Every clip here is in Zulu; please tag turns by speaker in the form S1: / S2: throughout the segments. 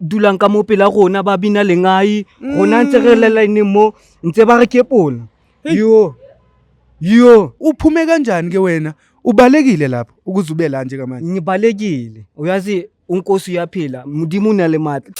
S1: dulang ka mo pela rona ba bina lengae rona ntse re le line mo ntse ba re ke pona yo yo uphume kanjani ke
S2: wena ubalekile lapho ukuze ube la njengamanje ngibalekile
S1: uyazi unkosi uyaphila mudimu na le matla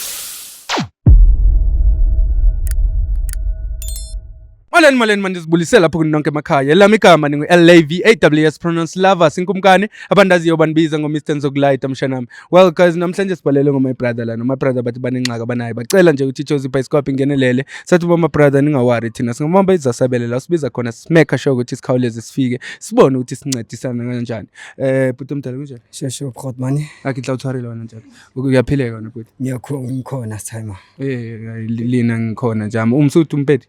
S2: Molweni molweni mandizibulise lapho kuni nonke emakhaya elami igama ningu-lav pronounce lava sinkumkani abantu aziyo bandibiza ngomr nzokulayita mshanami well guys namhlanje sibhalele ngoma brother lana uma brother bathi banengxaka abanayo bacela nje ukuthi ichozi ibhayisikophi ingenelele sathi boma brother ningawari thina singabamba izasabele la usibiza khona simekha sure ukuthi sikhawuleze sifike sibone ukuthi sincedisana kanjani eh bhuti omdala kunjani sheshe ukhot mani
S1: akitla uthwarele wena
S2: njalo uyaphileka wena bhuti ngiyakhona ngikhona
S1: timer eh lina
S2: ngikhona njama umsuthi umpedi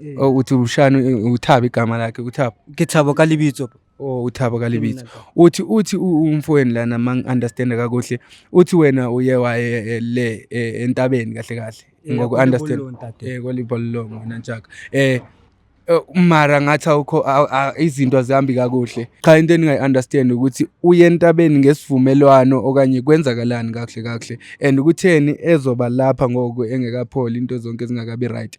S2: Eh. Oh, uthi umshana u- uthaba igama lakhe uthaba ke thabo ka lebitso
S1: oh uthaba kalibitso
S2: uthi uthi u- umfowenu lana mangi-understanda kakuhle uthi wena uye waye eh, le eh, entabeni kahle kahle Eh, ngoku-understand kwalibolo ntate. Eh, kwalibololongo wena ntshaka eh eh, mara ngathi awukho aw- a- izinto azihambi kakuhle cha into endingayi-understand ukuthi uye entabeni ngesivumelwano okanye kwenzakalani kakuhle kakuhle and kutheni ezoba lapha ngoku engekapholi into zonke zingakabi right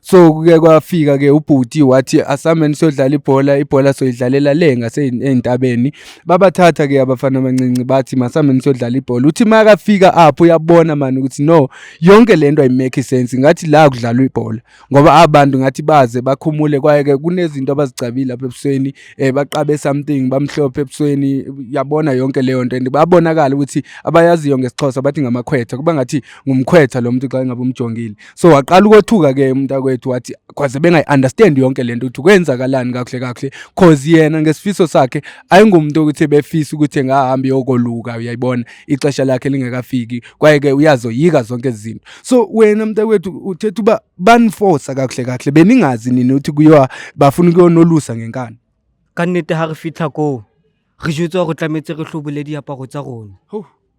S2: so kuke kwafika ke ubhuti wathi asameni siyodlala ibhola ibhola soyidlalela le ngase ezintabeni babathatha ke abafana abancinci bathi masameni siyodlala ibhola uthi makafika apho uyabona mani ukuthi no yonke lento ay make sense ngathi la kudlalwa ibhola ngoba abantu ngathi baze bakhumule kwaye ke kunezinto abazicabile lapha ebusweni eh baqabe something bamhlophe ebusweni yabona yonke leyo nto and babonakala ukuthi abayaziyo ngesixhosa bathi ngamakhwetha kuba ngathi ngumkhwetha lo muntu xa ngabe umjongile so waqala ukothuka ke umntakwethu wathi kwaze bengayi-understand yonke le nto ukuthi kwenzakalani kakuhle kakuhle cause yena ngesifiso sakhe ayingumuntu okuthi ebefisa ukuthi engahambi yokoluka uyayibona ixesha lakhe lingekafiki kwaye-ke uyazoyika zonke izinto so wena mntakwethu uthetha uba banifosa kakuhle kakuhle beningazi nini ukuthi kuyiwa bafuna ukuyonolusa ngenkani ka nnete ha
S1: re fitlha koo re jetswa gore tlametse re tlhobole diaparo tsa rona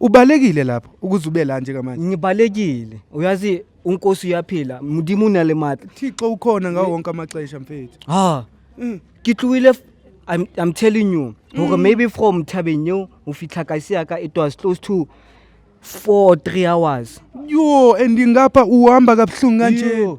S2: ubalekile lapho ukuze ube la njengamanje ngibalekile
S1: uyazi unkosi uyaphila mudimu o na le matla thixo ukhona ngawo
S2: wonke amaxesha mfethu ha mm.
S1: ke tlohile I'm, I'm telling you hore mm. maybe from thabeng eo ho fitlha kasi ya ka it was close to four three hours yho and
S2: ngapha uhamba kabuhlungu kanje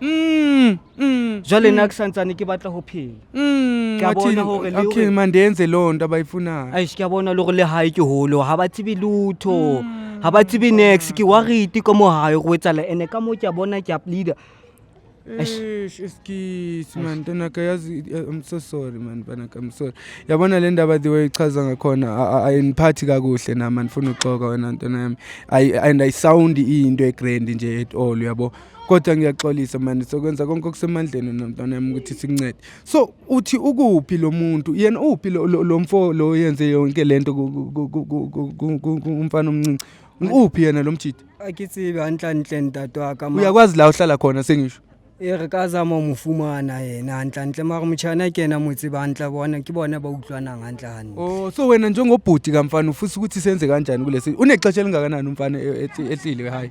S1: Mm, mm, jwale mm. na ke santsane ke batla ho phela mm, ke a bona hore le okay ma ndenze loo nto
S2: abayifunayo aish ke a bona le gore le
S1: hae ke holo ha ba tsebe lutho mm. ha ba tsebe nex ke warite ka mohayo go etsala ene ka moo ke a bona ke a pleader
S2: excuse man ntonaka yazi eh, i'm so sorry man banaka i'm sorry yabona le ndaba the way ichaza ngakhona ayindiphathi kakuhle nam andifuna uxoka wena ntona yami and ayisawundi iyinto egrand nje at all uyabo kodwa ngiyaxolisa mani sokwenza konke okusemandleni nomntwana yami ukuthi sikuncede so uthi ukuphi lo muntu yena uphi lo mfo lo yenze yonke le nto umfana omncinci uphi yena lo mjidi akithi kanhlanhle
S1: ndadwaka uyakwazi la uhlala khona
S2: sengisho e re ka zama
S1: mo fumana yena hantlentle mare motšhana ke ena motse bantle bona ke bona ba utlwanang hantlehane o oh, so wena
S2: njengobhuti kamfana ufisa ukuthi senze kanjani kulesi unexesha elingakanani umfana e, e, ehlile hayi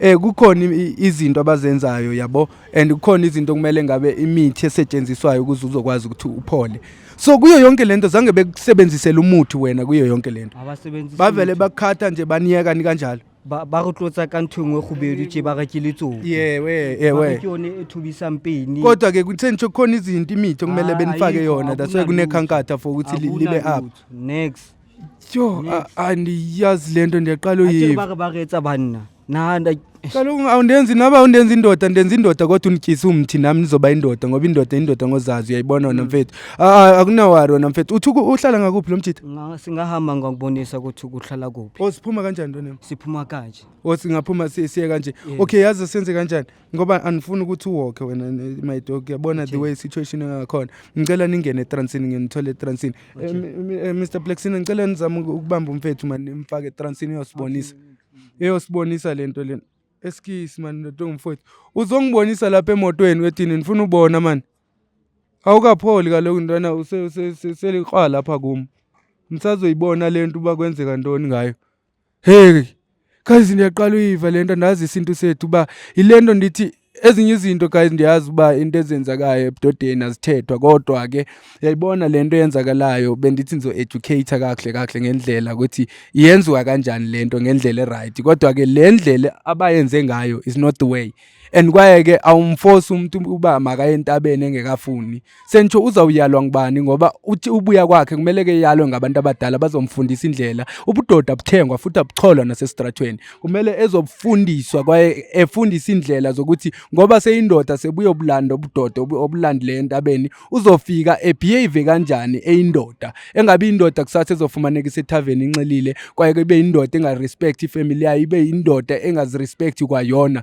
S2: eh kukhona izinto abazenzayo yabo and kukhona izinto kumele ngabe imithi esetshenziswayo ukuze uzokwazi ukuthi uphole so kuyo yonke lento zange bekusebenzisele umuthi wena kuyo yonke lento abasebenzisi bavele bakhatha nje baniyeka ni kanjalo ba ba go tlotsa ka
S1: ntho engwe go bedu tse ba ga ke letsogo yewe yewe
S2: ke yone e
S1: thubisang peni kodwa ke kuthe nje
S2: khona izinto imithi okumele ah, benifake yona that's why kunekhankatha for ukuthi libe up next
S1: Yo,
S2: a- andiyazi lento ndiyaqala Atjele uyiva. baka baka etsa banna.
S1: Na nda Kaloku awundenzi
S2: naba undenza indoda ndenza indoda kodwa unityise umthi nami nizoba indoda ngoba indoda indoda ngozazi uyayibona wena mfethu. Ah, ah, Akunawari wena mfethu. Uthi uku- uhlala ngakuphi lo mjita? nga- singahamba
S1: ngakubonisa ukuthi ukuhlala kuphi. Osiphuma kanjani ntonami?
S2: Siphuma kanje.
S1: Osingaphuma
S2: siye kanje. Yeah. Okay yazi senze kanjani? ngoba anifuni ukuthi uwokhe wena my dog yabona the way situation engakhona ngicela ningene etransini nginithole etransini eh, eh, Mr Plexina ngicela nizame ukubamba umfethu mani nimfake etransini uyosibonisa eyosibonisa lento lena eskisi mani lento ngumfowethu uzongibonisa lapha emotweni wethini ngifuna ubona mani awukapholi kaloku ntwana useliqwa lapha kum msazoyibona lento uba kwenzeka ntoni ngayo Hheyi guys ndiyaqala uyiva le nto ndazi isintu sethu uba yile nto ndithi ezinye izinto guys ndiyazi uba into ezenzakayo ebudodeni azithethwa kodwa ke yayibona le nto eyenzakalayo bendithi ndizo-educate kakuhle kakuhle ngendlela ukuthi yenziwa kanjani le nto ngendlela eright kodwa ke le ndlela abayenze ngayo is not the way and kwaye ke awumforce umuntu uba makaye entabeni engekafuni Sengisho uzawuyalwa ngubani ngoba uthi ubuya kwakhe kumele ke yalwe ngabantu abadala bazomfundisa indlela. Ubudoda buthengwa futhi abucholwa nasesitratweni. Kumele ezobufundiswa kwaye efundisa indlela zokuthi ngoba seyindoda sebuyobulanda ubudoda obu- obulandileyo entabeni uzofika ebehave kanjani eyindoda. Engabe indoda kusasa ezofumaneka isethaveni inxilile kwaye ke ibe indoda engarespect ifamily yayo ibe indoda engazirespect kwayona.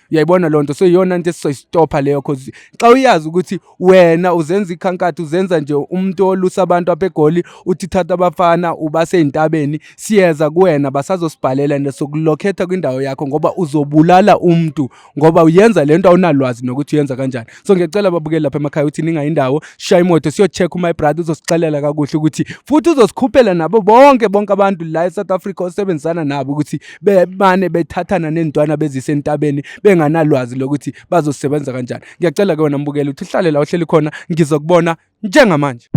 S2: uyayibona loo nto so iyona nto esizoyistopha leyo cause xa uyazi ukuthi wena uzenza ikhankatha uzenza nje umuntu olusa abantu apha egoli uthi thatha abafana ubasey'ntabeni siyeza kuwena basazosibhalela and sokulokhetha kwindawo yakho ngoba uzobulala umntu ngoba uyenza le nto awunalwazi nokuthi uyenza kanjani so ngiyacela babukeli lapha emakhaya ukuthi ningayi indawo shaya imoto siyocheck uma ibrother uzosixelela kakuhle ukuthi futhi uzosikhuphela nabo bonke bonke abantu la eSouth Africa osebenzisana nabo ukuthi bemane bethathana nentwana bezise entabeni benganalwazi lokuthi bazosebenza kanjani ngiyacela ke wena mbukeli ukuthi uhlale la uhleli khona ngizokubona njengamanje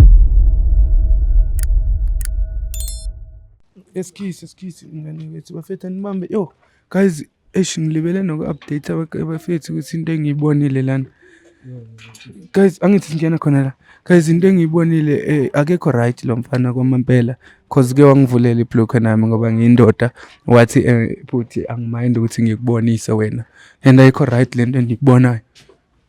S2: eskisi eskisi ngane wethu bafethu anibambe yo Guys, eish ngilibele noku-update abafethu ukuthi into engiyibonile lana. Guys, angithi singena khona la. Guys, into engiyibonile eh, akekho right lo mfana kwamampela cause ke wangivulela iblock nami ngoba ngiyindoda wathi eh, futhi angimind ukuthi ngikubonise wena. And ayikho right lento endiyibonayo.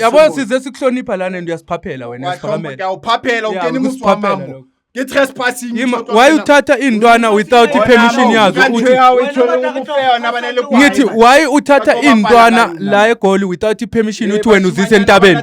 S2: yabo size sikuhlonipha lana and uyasiphaphela wena uyaphaphela ungena imusi wamambo
S3: why uthatha
S2: iy'ntwana without i-permission yazo ngithi why uthatha iy'ntwana la egoli without i-permission uthi wena uzise entabeni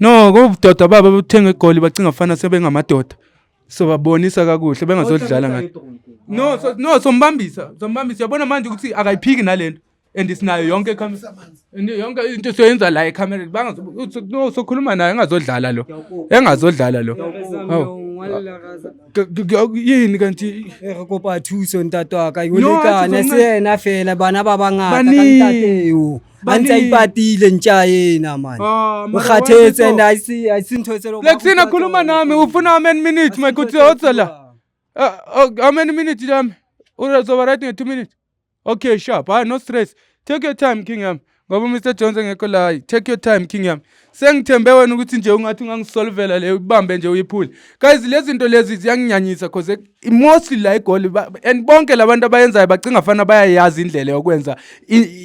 S2: No, kubudoda baba buthenga egoli bacinga fana sebengamadoda. So babonisa kakuhle bengazodlala ngathi. No, so, no sombambisa, sombambisa. Yabona manje ukuthi akayiphiki nalento. And sinayo yonke ikhamera. And yonke into soyenza la ekhamera. Bangazo no sokhuluma naye engazodlala lo. Engazodlala lo. Hawu. Ke- ke- ke- Yini kanti Eh, re kopa thuso
S1: ntate wa ka No, ha yolekane se se yena fela bana ba bangata ka Baningi. ntateo a ntse a Bani- ipatile ntsha yena mani Ah, mara ukhathetse why and so? ayisi- ayisintho eselo- Lexi nakhuluma nami
S2: ufuna how many minutes my good hotsela. Uh, oh, how many minutes yami? Uzoba right in 2 minutes. Okay, sharp. Ah, no stress. Take your time king yami. Ngoba Mr Jones engekho la. Take your time king yami. sengithembe wena ukuthi nje ungathi ungangisolvela leyo ibambe nje uyiphule guys lezi zinto lezi ziyanginyanyisa cause mostly la egoli and bonke labantu abayenzayo bacinga fana bayayazi indlela yokwenza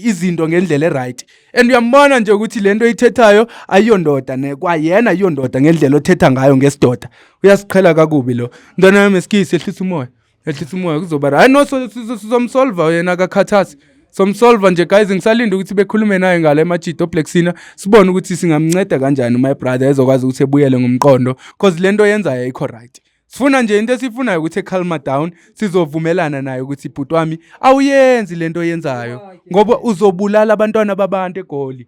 S2: izinto ngendlela eright and uyambona nje ukuthi lento ithethayo ayiyondoda ne kwayena iyondoda ngendlela othetha ngayo ngesidoda uyasiqhela kakubi lo ntwana yami esikisi ehlisa umoya ehlisa umoya kuzoba right no sizomsolva yena akakhathasi somsolva nje guys ngisalinde ukuthi bekhulume naye ngala emajidi oblacksina sibone ukuthi singamnceda kanjani my brother ezokwazi ukuthi ebuyele ngomqondo because le nto yenzayo ayikho right sifuna nje into esiyifunayo ukuthi ecalma down sizovumelana naye ukuthi bhuti wami awuyenzi le nto yenzayo ngoba uzobulala abantwana babantu egoli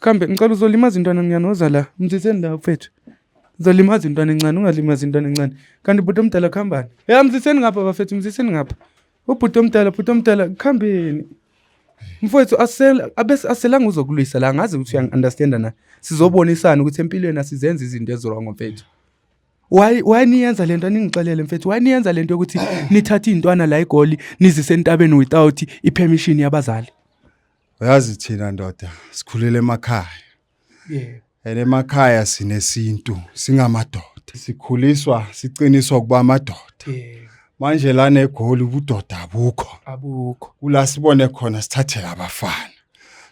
S2: Kambe ngicela uzolimaza intwana encane woza la. Mziseni la mfethu. Uzolimaza intwana encane ungalimaza intwana encane. Kanti bhuti omdala khambani. Ya mziseni ngapha bafethu mziseni ngapha. Ubhuti omdala bhuti omdala khambeni. Mfowethu asela abese aselanga uzokulwisa la ngazi ukuthi uyangi understand na. Sizobonisana ukuthi empilweni asizenze izinto ezirong mfethu. why why niyenza lento aningixelele mfethu why niyenza lento yokuthi nithathe izintwana la egoli nizise entabeni without ipermission yabazali Uyazi
S3: thina ndoda sikhulele emakhaya. Yebo. And emakhaya sinesintu singamadoda. Sikhuliswa siqiniswa ukuba amadoda. Yebo. Manje lana eGoli ubudoda abukho. Abukho. Kula sibone khona sithathela abafana.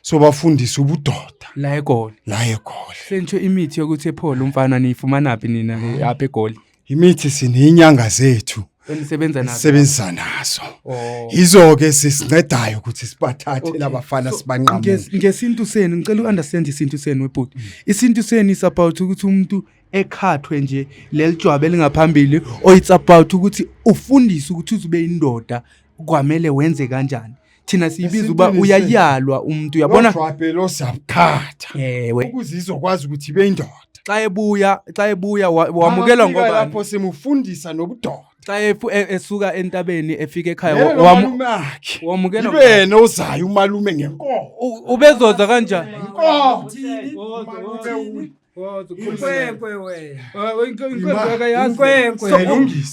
S3: So bafundisa ubudoda La eGoli. la
S2: eGoli. Sentsho imithi yokuthi ephole umfana niyifumanaphi nina le apha eGoli? Imithi sinenyanga
S3: zethu enisebenza nazo sisebenza
S2: nazo
S3: oh. yizo ke sisincedayo ukuthi sibathathe okay. labafana so, sibanqamuke ngesintu senu
S2: ngicela uunderstand isintu senu webhuti mm. isintu senu is about ukuthi umuntu ekhathwe nje lelijwabe elingaphambili or it's about ukuthi ufundise ukuthi uzube indoda kwamele wenze kanjani thina siyibiza uba Esintwini uyayalwa umuntu uyabona lojwabhela osabuthatha
S3: ewe ukuze izokwazi ukuthi ibe indoda xa ebuya
S2: xa ebuya wa- wamukelwa Afika ngoba lapho simufundisa
S3: nobudoda xa efu- e-
S2: esuka entabeni efika ekhaya Lelo wa- wamu- malume akhe
S3: wamukelwa ibe yena ozayo umalume ngenkomo U- ubezoza
S2: kanjani Inkomo. Uthini? Umalume Uthini? uyi-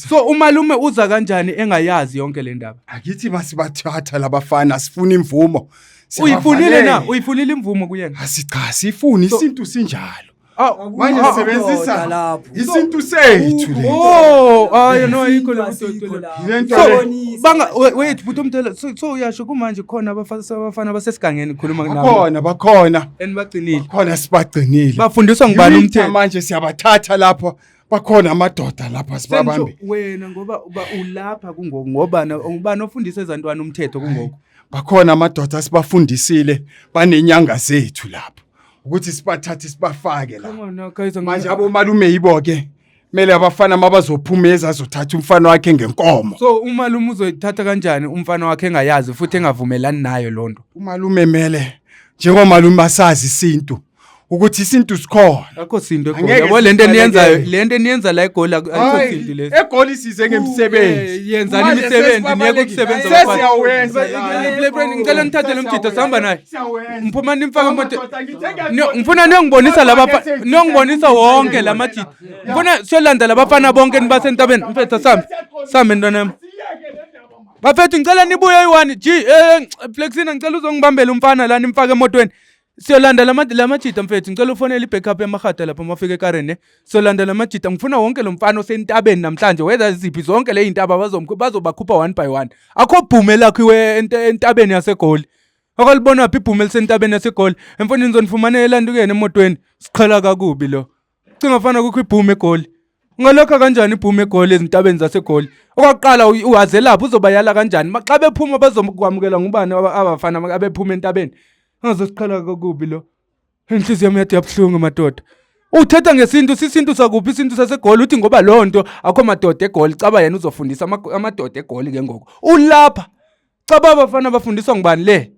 S2: so umalume uza kanjani engayazi yonke le ndaba akithi basibathatha
S3: labafana sifuna imvumo uyifunile na
S2: uyifunile imvumo kuyena asicha sifuni
S3: isintu sinjalo manje sebenzisa isintu sethu oh ayo
S2: no ayikho wethu bhuti omdala so uyasho kumanje khona abafana abasesigangeni khuluma nakhona bakhona
S3: and bagcinile khona
S2: sibagcinile
S3: bafundiswa ngubani umthetho
S2: manje siyabathatha
S3: lapho bakhona amadoda lapha sibabambe wena ngoba uba
S2: ulapha kungoku ngoba ubani ofundisa ezantwana umthetho kungoku bakhona amadoda
S3: asibafundisile banenyanga zethu lapho ukuthi sibathathe sibafake la manje abomalume yibo ke kumele abafana mabazophuma ezazothatha umfana wakhe ngenkomo so umalume
S2: uzoyithatha kanjani umfana wakhe engayazi futhi engavumelani nayo loo nto umalume mele
S3: njengomalume asazi isintu ukuthi isintu sikhona akho sinto Angeke
S2: egolabo le nto sihlale eniyenzayo kele. le nto eniyenza la egoli akho Hayi, sinto lesi egoli size ngemisebenzi
S3: Eh, yenzani Manje imisebenzi
S2: niyeke sesibalekile. ukusebenza Hayi, abafana. sesiyawenza
S3: Ba- la. le- le- le- ngicela
S2: nithathe lo mjita sihamba naye ngiphuma nimfaka emoto ngifuna niyongibonisa laba niyongibonisa wonke la majita ngifuna siyolanda labafana bonke nibasentabeni mfethu sami sami ntwana yami bafethu ngicela nibuye eyi-one g eh, flexina ngicela uzongibambela umfana la nimfake emotweni siyolanda la majita mfethu ngicela ufonele i-backup yamahada lapho mafika ekareni eh. siyolanda la majita ngifuna wonke lo mfana osentabeni namhlanje weza ziphi zonke le yintaba bazobakhupha one by one akho bhume lakho iwe entabeni yasegoli akalibona phi ibhume lisentabeni yasegoli emfonini zonifumane elandukeni emotweni siqhela kakubi lo cinga fana kukho ibhume egoli ungalokha kanjani ibhume egoli ezintabeni zasegoli okwaqala uhazelaphi uzobayala kanjani xa bephuma bazokwamukela ngubani abafana abephuma entabeni angazosiqhela kakubi lo inhliziyo yami yathi yabuhlungu madoda uthetha ngesintu sisintu sakuphi isintu sasegoli uthi ngoba loo nto akho madoda egoli caba yena uzofundisa amadoda egoli ke ngoku ulapha Cha baba bafana bafundiswa ngubani le?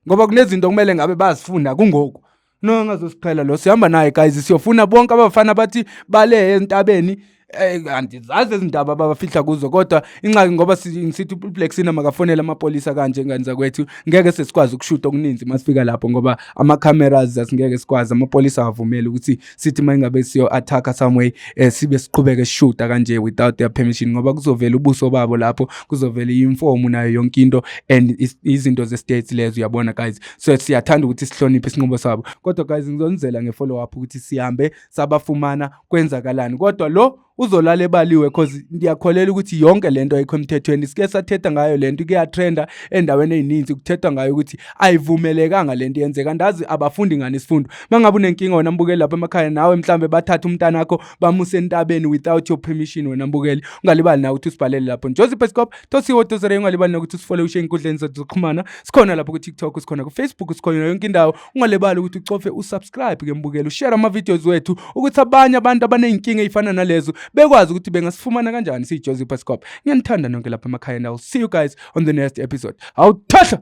S2: Ngoba kunezinto kumele ngabe bazifunda kungoku. No engazosiqhela lo sihamba naye guys siyofuna bonke abafana bathi bale entabeni eh andizazi izindaba babafihla kuzo kodwa inxaki ngoba sithi uBlack Sina makafonela amapolisa kanje ngani zakwethu ngeke sesikwazi ukushuta okuninzi masifika lapho ngoba ama cameras asingeke sikwazi amapolisa avumela ukuthi sithi uma ingabe siyo-attack-a some way um sibe siqhubeke sishuta kanje without their permission ngoba kuzovela ubuso babo lapho kuzovela i-informu nayo yonke into and izinto ze-states lezo uyabona guys so siyathanda ukuthi sihloniphe isinqubo sabo kodwa guys ngizonizela nge-follow up ukuthi sihambe sabafumana kwenzakalani kodwa lo uzolala ebaliwe cause ngiyakholela ukuthi yonke lento ayikho emthethweni sike sathetha ngayo lento kuyatrenda endaweni ezininzi kuthethwa ngayo ukuthi ayivumelekanga lento yenzeka ndazi abafundi ngani isifundo mangabe unenkinga wena mbukeli lapha emakhaya nawe mhlambe bathatha umntana wakho bamuse entabeni without your permission wena mbukeli ungalibali nawe ukuthi usibhalele lapho njozi pescop tosiwo dozere ungalibali nokuthi usifole ushe enkundleni zethu zokuxhumana sikhona lapho ku-tiktok sikhona ku-facebook sikhona yonke indawo ungalibali ukuthi ucofe usubscribe ke mbukeli ushare ama-videos wethu ukuthi abanye abantu abaney'nkinga ey'fana nalezo bekwazi ukuthi bengasifumana kanjani siyijozi pascop ngiyanithanda nonke lapha emakhaya and iwill see you guys on the next episode awuthahla